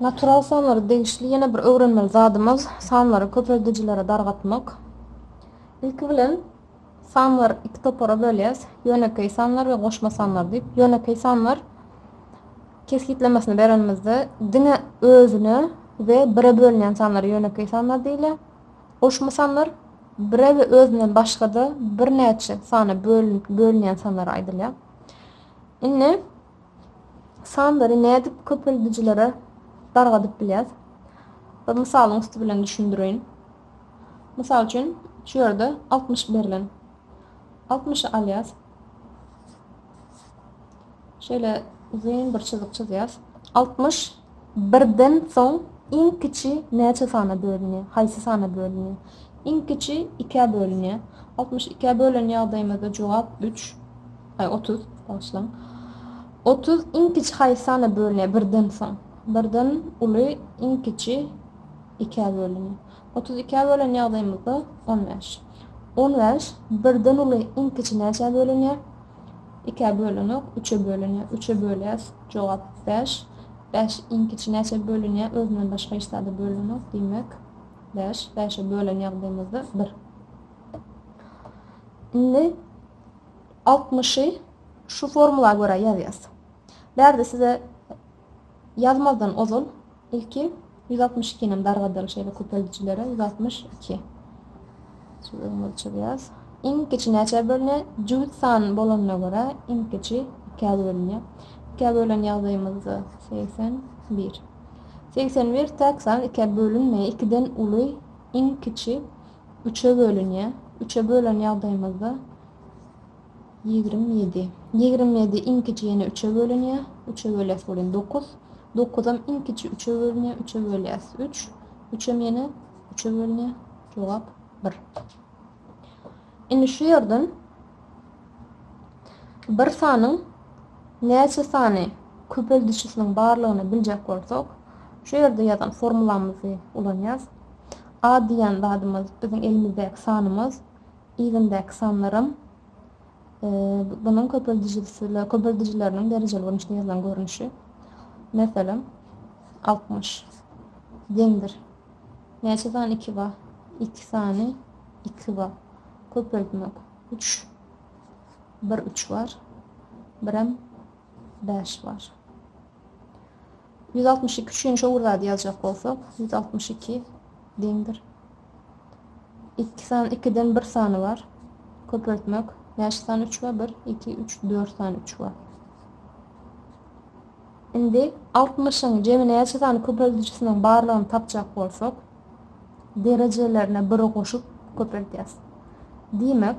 Natural sanlara degişli ýene bir öwrenmeli zadymyz sanlary köpeldijilere dargatmak. Ilki bilen sanlar iki topara bölýäs. Ýönekeý sanlar we goşma sanlar diýip. Ýönekeý sanlar kesgitlemesini berenimizde diňe özüne we bire bölünýän sanlar ýönekeý sanlar diýilýär. Goşma sanlar bire we özünden başga-da birnäçe sana bölünýän sanlar aýdylýar. Indi sanlary nädip köpeldijilere dargadyp bilýäs? Bir mysalyň üsti bilen düşündireýin. Mysal üçin, şu ýerde 60 berlen. 60-y alýas. Şeýle uzyn bir çyzyk çyzýas. Altmyş birden soň iň kiçi näçe sana bölünýär? Haýsy sana bölünýär? Iň kiçi ikä bölünýär. Altmyş ikä bölen ýagdaýymyzda jogap üç, aý, otuz, bagyşlaň. Otuz iň kiçi haýsy sana bölünýär birden soň? Birden uly iň kiçi ikä bölünýär. Otuz ikä bölen ýagdaýymyzda on bäş. On bäş birden uly iň kiçi näçä bölünýär? Ikä bölünik, üçe bölünýär, üçe bölýäs, jogap, bäş. Bäş iň kiçi näçä bölünýär, özünden başga hiç zada bölünenok, diýmek, bäş. Bäşe bölen ýagdaýymyzda bir. Indi altmyşy şu formula görä ýazýas. Bärde size ýazmazdan ozal Ilki ýüz altmyş iki inem dargadyl şeýle köpeldijilere ýüz altmyş iki Sözüň ölçegi ýaz. Iň kiçi näçä bölünýär? Jübüt san bolanyna görä, iň kiçi ikä bölünýär. Ikä bölen ýagdaýymyzda segsen bir. Segsen bir täk san ikä bölünmeýär. Ikiden uly, iň kiçi üçe bölünýär. Üçe bölen ýagdaýymyzda. Ýigrimi ýedi. Ýigrimi ýedi iň kiçi ýene üçe bölünýär. Üçe bölýäs welin, dokuz. Dokuzam iň kiçi üçe bölünýär. Üçe bölýäs, üç. Üçem ýene üçe bölünýär. Jogap, bir. Indi şu ýerden bir sanyň näçe sany köpeldijisiniň barlygyny biljek bolsak, şu ýerde ýazan formulamyzy ulanýarys. A diýen zadymyz biziň elimizdäki sanymyz. Yzyndaky sanlaram bunuň köpeldijileriniň derejeli görnüşde ýazylan görnüşi. Meselem, altmyş. Deňdir. Näçe sany iki bar? Iki sany iki bar. Köpeltmek. Üç. Bir üç bar. Birem bäş bar. Ýüz altmyş iki üçin şo bir zady ýazjak bolsak, ýüz altmyş iki deňdir. Iki san, ikiden bir sany bar. Köpeltmek. Näçe sany üç bar? Bir, iki, üç, dört sany üç bar. Indi altmyşyň jemi näçe sany köpeldijisiniň barlygyny tapjak bolsak, derejelerine biri goşup köpeltýäs. Diýmek,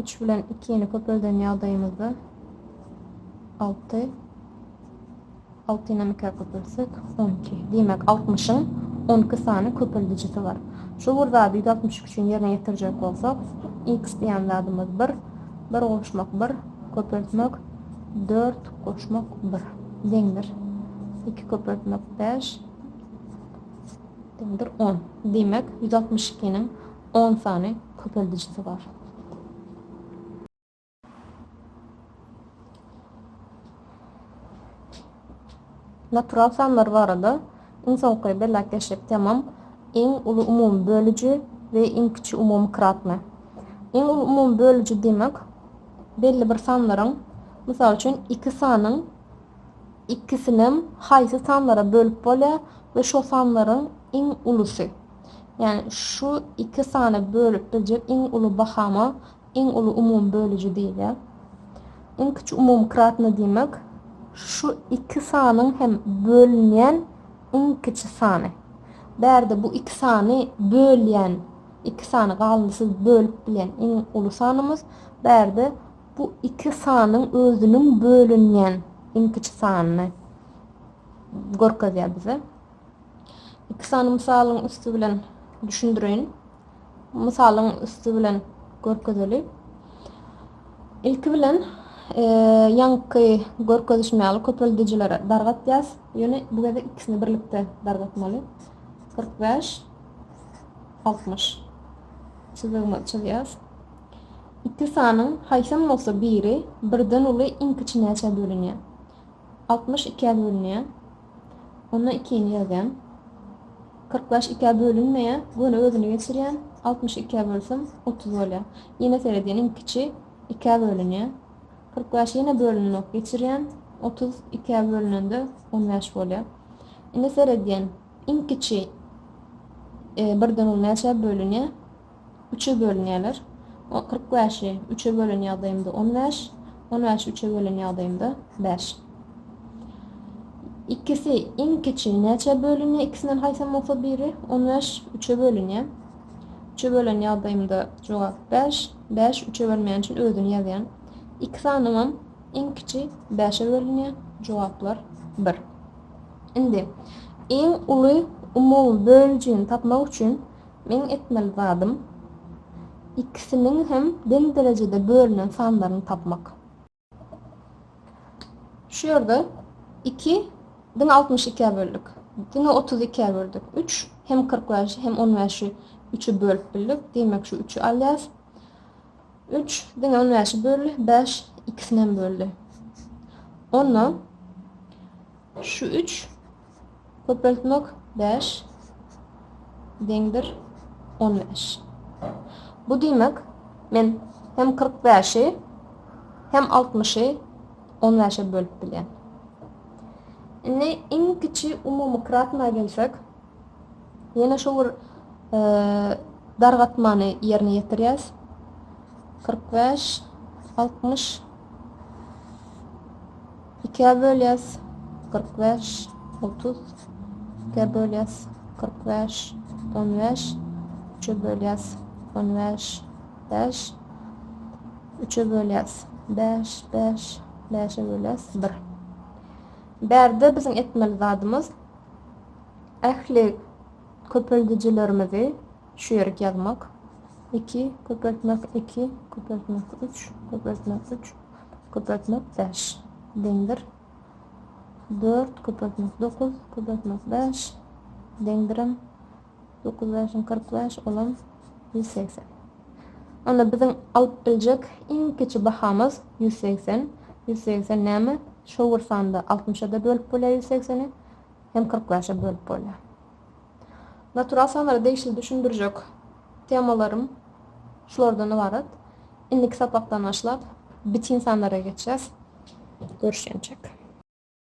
Üç bilen ikini köpelden ýagdaýymyzda alty. Altynam ikä köpeltsek, on iki. Diýmek, altmyşyň on iki sany köpeldijisi bar. Şu bir zady ýüz altmyş üç üçin ýerine ýetirjek bolsak, iks diýen zadymyz bir, bir goşmak bir, köpeltmek dört, goşmak bir deňdir iki, köpeltmek bäş deňdir on. Diýmek, ýüz altmyş ikiniň On sany köpeldijisi bar. Natural sanlar barada iň soňky belläp geçdik temam, iň uly umumy bölüji we iň kiçi umumy kratny. Iň uly umumy bölüji diýmek, belli bir sanlaryň, mysal üçin, iki sanyň ikisinem haýsy sanlara bölüp bolýar we şo sanlaryň iň ulusy. Ýagny şu iki sana bölüp biljek iň uly bahama iň uly umumy bölüji diýilýär. Iň kiçi umumy kratny diýmek şu iki sanyň hem bölünýän iň kiçi sany. Bärde bu iki sany bölýän, iki sany galyndysyz bölüp bilýän iň uly sanymyz, bärde bu iki sanyň özüniň bölünýän iň kiçi sanyny görkezýär bize. Iki sany mysalyň üsti bilen düşündireýin. Mysalyň üsti bilen görkezeli. Ilki bilen e, ýaňky görkezişim ýaly köpeldijilere dargatýas. Ýöne bu gezek ikisini birlikde dargatmaly. 45 60 çyzygymyzy çyzýas. Iki sanyň haýsam bolsa biri birden uly iň kiçi näçä bölünýär? 62-ä bölünýär. Onda ikini ýazýan. Kyrk bäş ikä bölünmeýär. Göni özüni geçirýän. Altmyş ikä bölsem, otuz bolýar. Ýene seredýän, iň kiçi ikä bölünýär. Kyrk bäş ýene bölünenok, geçirýän. Otuz ikä bölünende on bäş bolýar. Indi seredýän, iň kiçi birden on bäşe bölünýär. üçe bölünýärler. O kyrk bäşi üçe bölen ýagdaýymda on bäş, on bäşi üçe bölen ýagdaýymda bäş. Ikisi iň kiçi näçä bölünýär? Ikisinden haýsam bolsa biri on bäş üçe bölünýär. Üçe bölen ýagdaýymda jogap bäş. Bäş üçe bölmeýän üçin özüni ýazýan. Iki sanymam iň kiçi bäşe bölünýär. Jogaplar bir. Indi iň uly umumy böljini tapmak üçin Meň etmeli zadym, ikisiniň hem deň derejede bölünen sanlaryny tapmak. Şu ýerde iki diňe altmyş ikä böldük. Diňe otuz ikä böldük. Üç, hem kyrk bäşi, hem on bäşi üçe bölüp bildik. Diýmek, şu üçi alýarys. Üç, diňe on bäşi böldi. Bäş, ikisinem böldi. Onda şu üç Köpeltmek bäş, deň bir, on bäş. Bu diýmek, men hem kyrk bäşi, hem altmyşy on bäşe bölüp bilýän. Indi iň kiçi umumy kratna gelsek, ýene şu bir dargatmany ýerine ýetirýäs. Kyrk bäş, altmyş, Ikä bölýäs, kyrk bäş, otuz. Ikä bölýäs, kyrk bäş, on bäş. Üçe bölýäs, on bäş, bäş. Üçe bölýäs, bäş, bäş. Bäşe bölýäs, bir. Bärde biziň etmeli zadymyz, ähli köpeldijilerimizi, Şu ýerik ýazmak. Iki, köpeltmek, iki, köpeltmek, üç, köpeltmek, üç, köpeltmek, bäş. Deňdir. Dört, köpeltmek, dokuz, köpeltmek, bäş. Deňdirem. Dokuz bäşiň kyrk bäş, olam ýüz segsen. Onda biziň alyp biljek iň kiçi bahamyz ýüz segsen. Ýüz segsen näme? Şowur sanda altmyşa-da bölüp bolýar ýüz segseni hem kyrk bäşe bölüp bolýar. Natural sanlara degişli düşündirjek temalarym şulardan ybarat. Indiki sapakdan başlap bitin sanlara geçýäs. Görüşýänçäk.